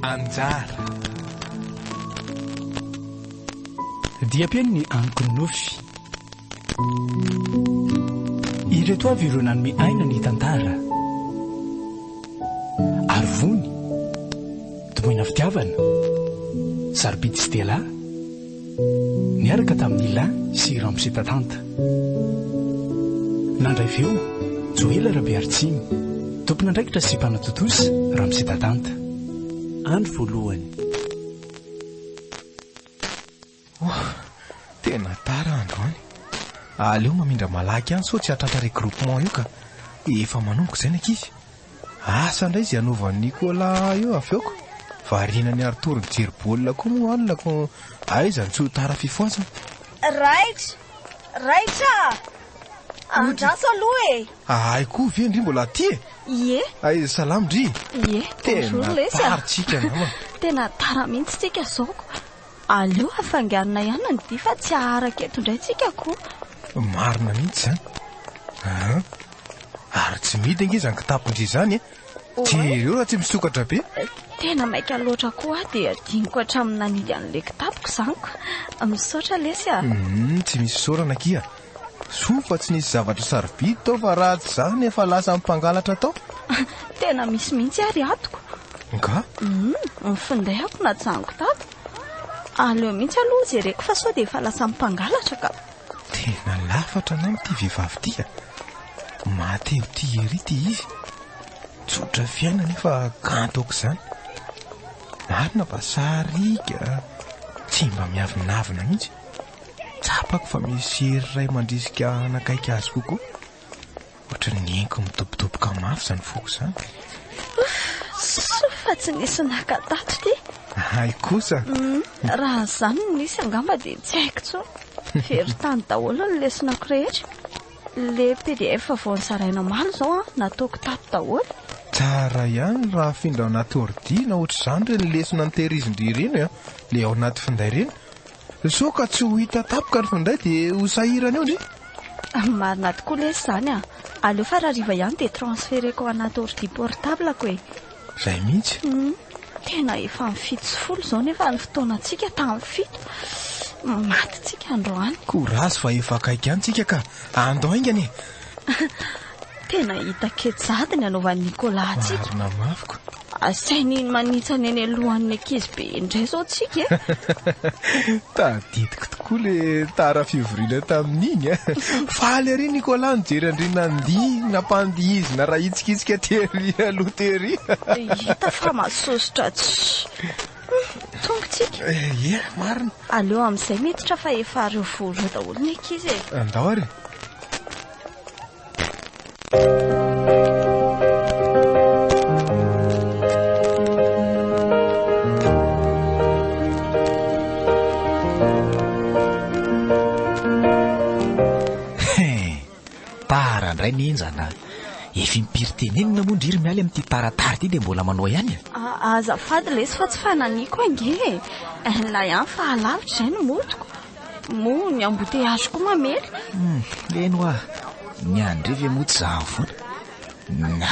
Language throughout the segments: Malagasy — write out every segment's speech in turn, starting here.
Anjara. Diam-pihaino ny anoko nofy. Ireto avy ireo nanome aina ny tantara. Arivony, Tomoina Fitiavana, Sarobidy Stella, niaraka tamin'i Lin sy Ramose Tatanta. Nandray feo, Joela Rabearitsimo, tompon'andraikitra sy mpanatontosa, Ramose Tatanta. Andro voalohany. Oh, tena tara androany. Aleo mamindra malaky ihany sao tsy hahatratra regroupement io ka. Efa manomboka izay ny ankizy. Asa ndray zay anaovan'i Nicolas eo avy eo ko variana ny Arthur mijery baolina koa moa alina ko aiza ny tsy ho tara fifohazana. Raitra! Raitra a! Andraso aloha e! Ahay koa ve ndry mbola aty e! Ie! Aiza salama ndry! Ie! Tena tara tsika namana! Tena tara mihitsy tsika zao ko! Aleo afangarona ihany ny dihy fa tsy haharaka eto indray tsika koa. Marina mihitsy izany. Aa! Ary tsy midy ange izany kitapon-dry izany e. Jereo raha tsy misokatra be. Tena maika loatra koa aho dia adinoko hatramin'ny nanidy an'ilay kitapoko izany ka. Misaotra lesy a. Hum, tsy misy isaorana akia. Soa fa tsy nisy zavatra sarobidy tao fa raha tsy izany efa lasa mpangalatra tao. Tena misy mihitsy ary atoko. Nga? Ny finday ako najanoko tato. Aleo mihitsy aloha jereko fa sao dia efa lasa mpangalatra ka. Tena lafatra anao ity vehivavy ity a. Maty eo tia ery ity izy. Tsotra fiaina nefa kanto aok'izany. Marina fa sariaka, tsy mba miavonavona mihitsy. Tsapako fa misy hery iray mandrisika hanakaiky azy kokoa. Ohatran'ny neniko midobodoboka mafy izany foko izany. Soa fa tsy nisy naka tato ity. Hay kosa. Mm, raha izany no nisy angamba dia tsy haiko intsony. Very tany daholo ny lesonako rehetra. Le PDF vao nizaraina omaly izao an, nataoko tato daholo. Tsara ihany raha afindra ao anaty ordi na ohatr'izany ireny lesona nitehirizin-dry ireny, le ao anaty finday ireny, Sao ka tsy ho hita tampoka ny fanday dia ho sahirana eo ndry. Marina tokoa lesy izany a! Aleo fa rahariva ihany dia transferer-ko ao anaty ordi portable-ko e! Izay mihitsy. Humm, tena efa amin'ny fito sy folo izao nefa ny fotoanantsika tamin'ny fito. Maty tsika androany. Courage fa efa akaiky ihany tsika ka! Andao haingana e! Tena hita kejady ny anaovan'i Nicolas antsika. Marina mafy ko. Asainy manitsana eny alohan'ny ankizy be indray izao tsika e. Tadidiko tokoa le tara fivoriana tamin'iny a. Faly ery Nicolas nijery an-dry Nandy nampandihizina rahitsika hetsika tery aloha tery. Hita fa masosotra tsy. Tongotsika. Ie, marina. Aleo amin'izay miditra fa efa ary ho voareo daholo ny ankizy e. Andao ary. Tara ndray nenjana a! Efa impiry tenenina moa ndry ry Mialy amin'ity taratara ity dia mbola manao ihany a! Azafady lesy fa tsy fananiko ange e! Na ihany fa alavitra izay no motiko! Moa ny embouteillage koa mamely! Hum, eny hoa! Ny an'ndry ve moa tsy zahany foana?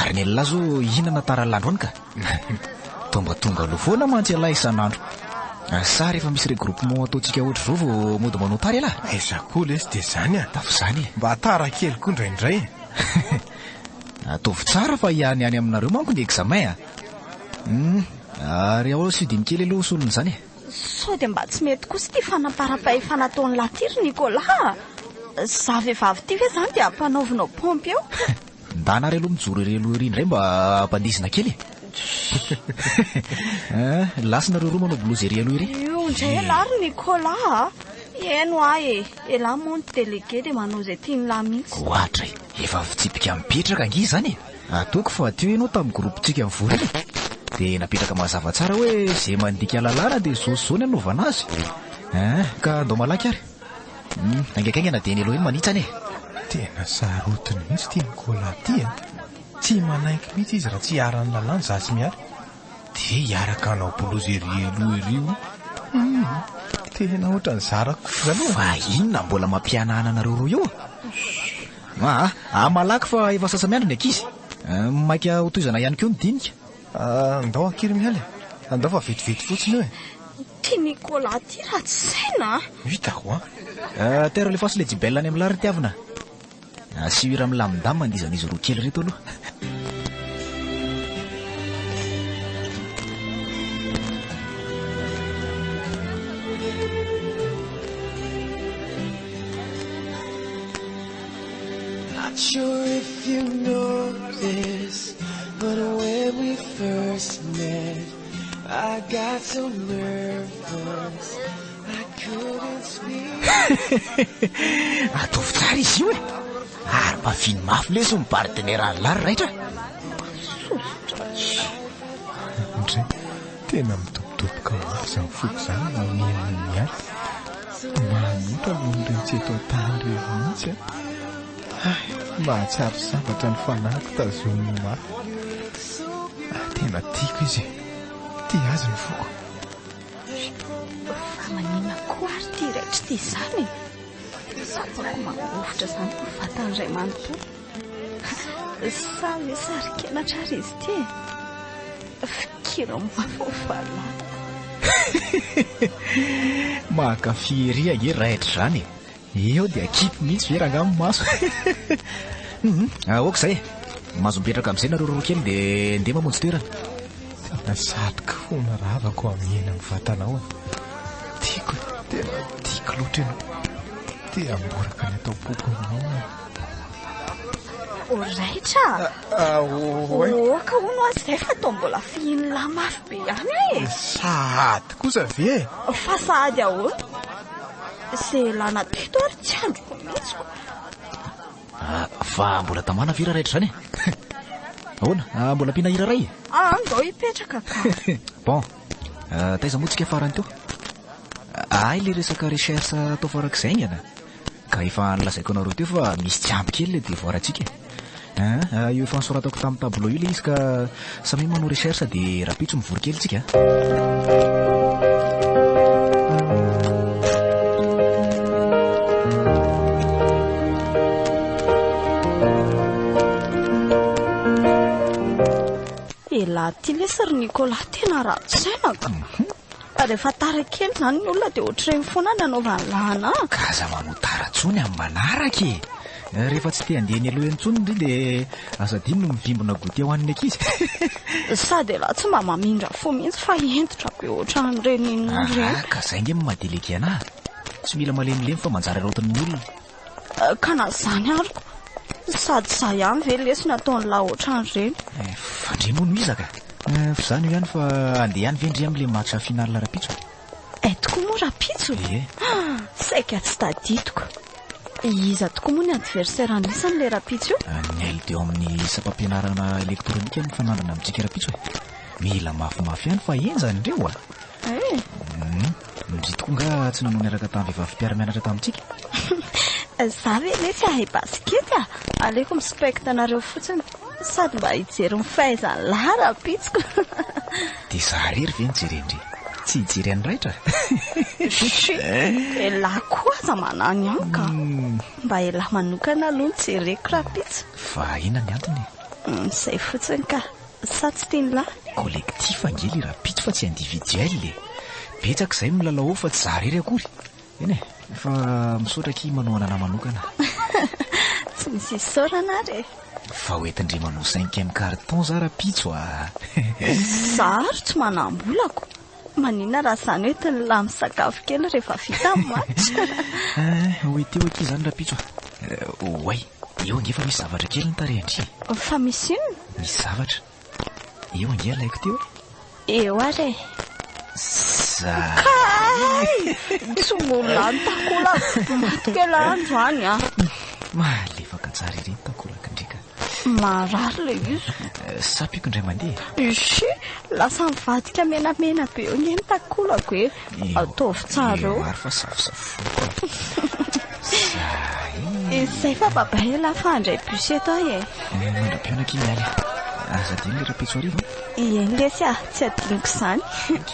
Ary ny an'lah zao hihinana tara lahandroany ka! Tonga tonga aloha foana mantsy ialahy isan'andro. Sa rehefa misy regroupement ataontsika ohatr'izao vao mody manao tara ialahy? Aiza koa lesy dia izany an! Dafa izany e! Mba tara kely koa indraindray e! Ataovy tsara fa ihaniany aminareo manko ny examen a! Hum! Ary ao Sud-Iny kely aloha ho solony izany e! Sao dia mba tsy mety kosa ity fanamparam-pahefana ataon'lah ity ry Nicolas a! Za vehivavy ity ve izany dia ampanaovinao pompier eo? Ndà nareo aloha mijoro ery aloha ery indray mba hampandizina kely e. An, lasa nareo roa manao bolozy ery aloha ery. Io indray elah ry Nicolas a! Heno ahy e! Elah moa ny délégué dia manao izay tian'lah mihitsy. Ohatra e! Efa fitsipika mipetraka ange izany e! Ataoko fa teo ianao tamin'ny groupe-ntsika nivory iny dia napetraka mazava tsara hoe izay mandika lalàna dia izao sy izao ny hanaovana azy. An, ka andao malaky ary. Hum, haingankaingana dia ny Elohim manitsana e! Tena sarotiny mihitsy ity Nicolas ity a! Tsy manaiky mihitsy izy raha tsy hiharan'ny lalàna za sy Mialy. Dia hiaraka hanao bolozy ery aloha ery o! Hum, tena ohatran'ny zarako kosa aloha. Fa inona mbola mampihanahana anareo roa io? Aa, malaky fa efa sasa-miandry ny ankizy. Maika hotohizana ihany koa ny dinika. Andao ankira miala e! Andao fa vetivety fotsiny io e! Ty Nicolas ty ratsy saina a! Hitako a! Tero alefaso le jibel any amin'ny lary tiavina a! Asio hira milamindamy mandizan'izy roa kely reto aloha. Ataovy tsara izy io e! Ary mafiny mafy lesy ny bar general-na ry raitra a! Sosotra. Tena midobodoboka mafy izany foko izany no omena ny aty. Manota ny olon-dretsy eto an-tany ireny mihitsy an! Hay, mahatsiaro sambatra ny fanahiko tazominy mafy. Ah, tena tiako izy e! Tia azy ny foko. Fa maninona koa ary ity raitr'ity izany e? Tsy afaka mangovitra izany ny vatan'ny ray manontolo. Sa hoe sarikenatra ary izy ity e? Fikira mafy ny fahalalanao. Mankafy ery ange raidra izany e. Eo dia kipy mihitsy ve rangahy ny maso. Hum, aoka izay e. Mahazo mipetraka amin'izay nareo roa kely dia ndeha mamonjy toerana. Tena satroka hono ravako hamihena amin'ny vatanao a. Tiako e, tena tiako loatra ianao. Te hamboraka ny atao am-poko aminao aho. Ho raitra? Ah, oay. Oka hono azy izay fa toa mbola fihiny lahy mafy be ihany e. Eh. Sahady kosa ve e? Fa sahady ahoana? Izay lana teto ary tsy androko mihitsy ko. Ah, fa mbola tamana ve raha raitra izany e? Ahoana? Ah, mbola ampiana hira iray? Ah, andao hipetraka ka. Bon. Ah, taiza moa tsika farany teo? Ahay le resaka recherche atao farak'izay aingana. Ka efa nolazaiko anareo teo fa misy tsy ampy kely le devoir antsika e! Ahh io efa nosoratako tamin'ny tableau io le izy ka samia manao recherche de rapitso mivory kely tsika a! Elah ty lesy ry Nicolas tena ratsy saina ka! Fa rehefa tara kely izany ny olona dia ohatr'ireny foana no anaovany lahana an! Ka aza manao tara intsony amin'ny manaraka e! Rehefa tsy te handeha eny aloha eny intsony ndry dia aza adino ny mivimbina goûter ho an'ny ankizy. Sady elah tsy mba mamindra fo mihitsy fa hentitra be ohatran'ireny inona ireny. Aa ka izay ange ny maha-délégué anah a! Tsy mila malemilemy fa manjary arautin'ny olona. Ka na zany ary ko. Sady za ihany ve lesy nataony lahy otrany reny. Eh, fa ndry moa no iza ka? Eh, fa zany io ihany fa andeha ihany ve ndry am le match finale rapitso? Eh, tokoa moa rapitso? Ie. Ah, saika tsy tadidiko. Iza tokoa moa ny adversaire anisany le rapitso io? Ah, ny ailo teo amin'ny sampam-pianarana elektronika mifanandrina amintsika rapitso eh. Mila mafimafy ihany fa henjany reo ah. Eh. Hmm. Ndry tokoa nga tsy nanao niaraka tamin'ny vehivavy mpiara-mianatra tamintsika? Za ve anie tsy hahay basket a! Aleoko mi-spect anareo fotsiny, sady mba hijery ny fahaizan'i lahy rahampitsiko. Dia za irery ve no jerendry? Tsy hijery an'i Raitra? Chut! Dia lahy koa aza manao ny amiko a! Mba elah manokana aloha no jereko rahampitso. Vahina ny antony e! Izay fotsiny ka! sa tsy teny lahy? Collectif ange le rahampitso fa tsy individuel e! Betsaka izay milalao ao fa tsy za rery akory! Eny e! Fa misaotra akia manohana anah manokana! Tsy misy isaorana ary e! Fa ho entin-dry manao cinquième carton za rahampitso a! Za ary tsy manam-bolako! Maninona raha izany hoe tolona misakafo kely rehefa vita ny match? Eh, ho ety ho akia izany rahampitso a! Oay, eo ange fa misy zavatra kely ny tarehin-dry e! Fa misy inona? Misy zavatra. Eo ange alaiko teo e! Eo ary e! Za! Kay! Tsy mbola lany takolaka! Maty kely andro any an! Malefaka tsara ery ny takolaka ndry ka! Marary ilay izy. Sapiko indray mandeha. Ishi, lasa mivadika menamena be eo anie ny takolako e. Ataovy tsara eo. Maro fa safosafoko. Zay. Izay fa babay e, lafa handray bus eto aho e. Mandra-pihaona akia ny aly. Aza adino ilay rapitso hariva. Ieny lesy a, tsy adinoko izany. Ok.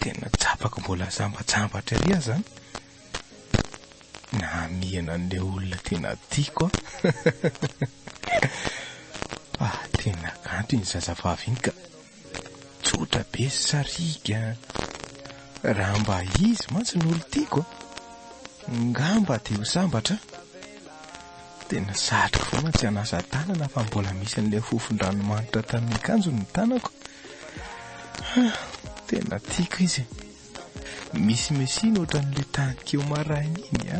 Tena tsapako mbola zambajambatra ery aza an! Namihana an'ilay olona tena tiako an! Fa tena kanto iny zazavavy iny ka! Tsotra be sy sariaka an! Raha mba izy mantsy no olon-tiako an! Ngamba dia ho sambatra an! Tena sarotra foana tsy hanasa tanana fa mbola misy an'ilay fofon-dranomanitra tamin'ny akanjony ny tanako. Tena tiako izy. Misy Messi nohatran'ilay tany keo maraina iny a.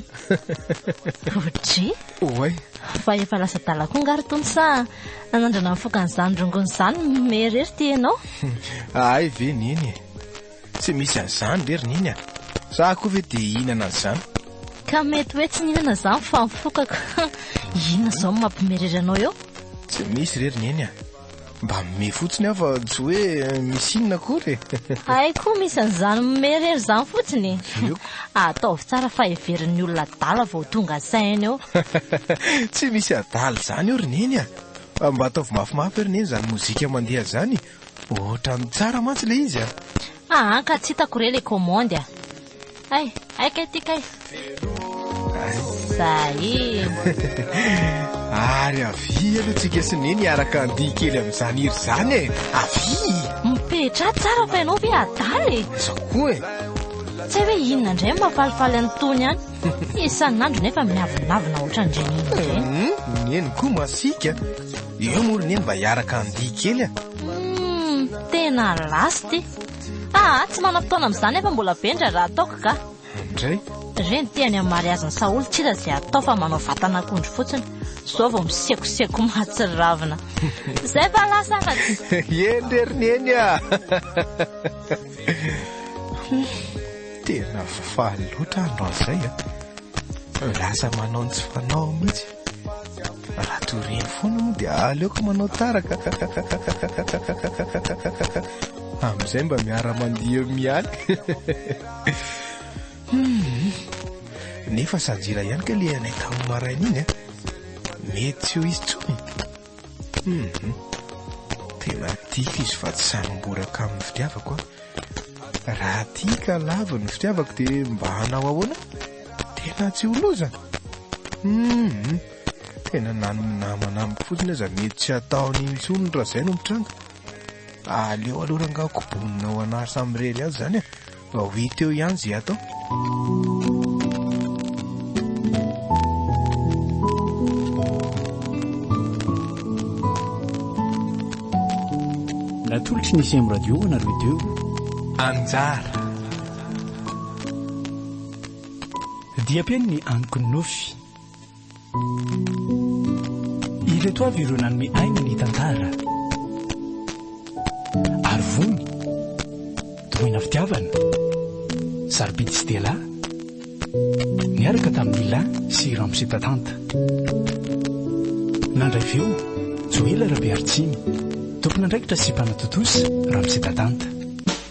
Roger? Oay. Fa efa lasa adala koa nga ry Tony sa nanandrana nifoka an'izany rongony izany mihomehy irery ity ianao? Ahay ve neny e. Tsy misy an'izany re ry Neny a! Za koa ve dia hihinana an'izany? Ka mety hoe tsy nihinana izany fa mifokaka. Inona izao no mampimerery anao eo? Tsy misy re ry Neny a! Mba mimehy fotsiny aho fa tsy hoe misy inona akory e! Hay koa misy an'izany mimehy irery izany fotsiny e! Ataovy tsara fa heverin'ny olona adala vao tonga saina eo. Tsy misy adala izany eo ry Neny a! Mba ataovy mafimafy ve ry Neny izany mozika mandeha izany Otrany tsara mantsy le izy a! Aa ka tsy hitako re le commande a! Hay! Hay kay ty kay! Zahii! Ary avia aloha tsika sy Neny hiaraka handihy kely amin'izany hira izany e! Avia! Mipetraha tsara fa ianao ve adala e! Izao koa e! Tsy hay hoe inona indray no mampalifaly an'itony an! Isan'andro nefa miavonavona ohatran'ireny inona ireny! Neny koa masiaka! Io moa ry neny mba hiaraka handihy kely a! Humm, tena lasty. Ah, tsy manam-potoana amin'izany aho fa mbola be ny raharaha ataoko ga. Indray? Reny ity any amin'ny mariazin'i Saholy tsy iza izay atao fa manao vatan'akondro fotsiny. Izao vao misekoseko mahatsiravina. Izay fa lasa afatsy. Eny re ry neny a! Tena faly loatra aho androany izay a! Lasa manao ny tsy fanao mihitsy. Raha toy ireny foana moa dia aleoko manao tara ka. Amin'izay mba miara-mandihy eo mialy. Nefa sanjila ihany ka le anay tamin'ny maraina iny. Mety tsy ho izy intsony. Hum. Tena tiako izy fa tsy sahy mamboraka amin'ny fitiavako aho. Raha tia ka lavo ny fitiavako dia mba hanao ahoana? Tena tsy ho loza. Hum. Tena na ny namana amiko fotsiny aza mety tsy ataony intsony raha izay no mitranga. Aleo aloha rangaha kobonina ho an'Arsa Mirery azy izany e. Mba ho hita eo ihany izay atao. Natolotry ny sem radio ho anareo teo. Anjara. Diam-peno ny anonkon'ny nofy. Ireto avy ireo nanome aina ny tantara. Arivony, Domoina Fitiavana, Sarobidy sy Dela, niaraka tamin'i Ila sy Ramose Tatanta. Nandray feo, Joela Rabearitsiny, tompon'andraikitra sy mpanatontosa, Ramose Tatanta.